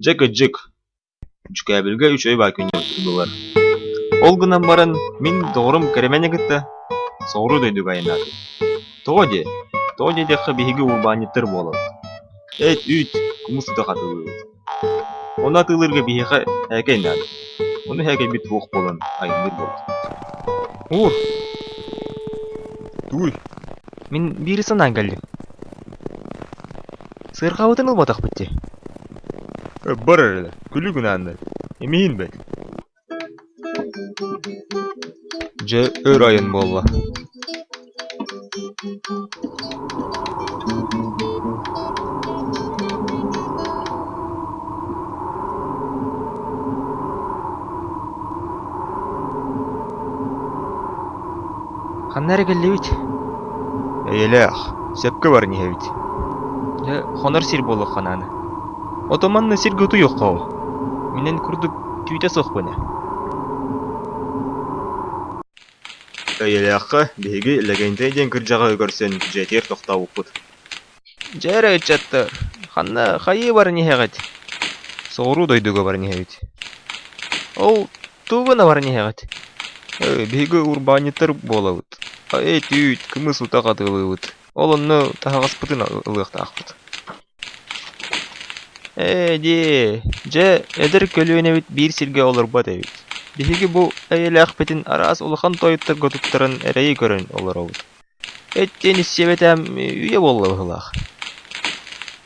Дьэ кыдьык, Дьүкээбилгэ үч ой Баакынньабыттан ылылар. Ол гынан баран мин доҕорум Кэрэмэни кытта соҕуруу дойдуга айанаатым. Тоҕо диэ? Тоҕо диэтэххэ биһиги урбаанньыттар буолабыт. Эт-үүт, кумус ыта хатылыыбыт. Ону атыылыырга биһиэхэ ээкэй наада. Ону ээкэйбит суох буолан айанныыр буолар. Уур! Тууй! Мин биир санаан кэллим. Сыарҕабытын ылбатахпыт дии. Бар эрэ, күлүгүн ааннар. Эмиийин бэт. Дьэ, өр айан буолла Ханна эрэ кэллибит? Эйэлээх, сөпкө баран иһэбит. Дьэ, хонор сир буоллахха наана. Отоманна сиргэ утуйуохха оо. Минэн курдук Түүтэ суохпун ээ Эйэлээххэ биһиги Лэгэнтэй диэн кырдьаҕаһы көрсөн дьиэтигэр тохтообуппут Дьэ эрэ ыччаттар, ханна хайыы баран иһэҕит? Соҕуруу дойдуга баран иһэбит. Ол тугу гына баран иһэҕит? Э, биһиги урбаанньыттар буолабыт. А, Эт-үүт, кымыс ута хатылыыбыт. Ол онно таһаҕаспытын ылыахтаахпыт. Ээ-дии, дьэ, эдэр көлүөнэбит биир сиргэ олорбот эбит. Биһиги бу эйэлээхпитин араас улахан тойотторго туттаран эрэйи көрөн олоробут. Эттиэн истиэбэтэм, үйэ буолла быһыылаах.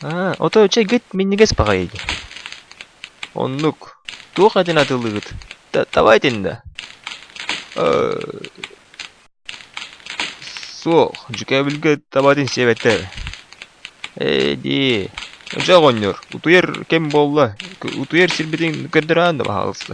Аа, ото чэ гыт минньигэс баҕайы дии. Оннук. Туох этин атыылыыгыт? Та- табаа этин да? Э Суох, дьүкээбилгэ табаатын сиэбэттэр эбит. Ээ-дии, дьэ оҕонньор, утуйар кэм буолла, утуйар сирбитин көрдөрөөн да баһаалыста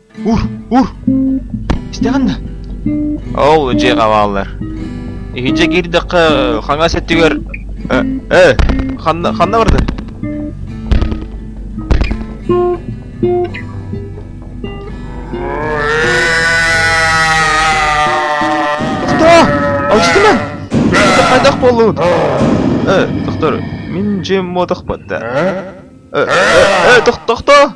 Ур, ур! Истэҕин да? Ол дьиэҕэ бааллар. Иһирдьэ киирдэххэ хаҥас өттүгэр ээ ханна ханна барды? Доктор! Алжытымын! Хайдах боллун? Э, доктор, мен дьиэм мотох батта. Э, э, э, доктор!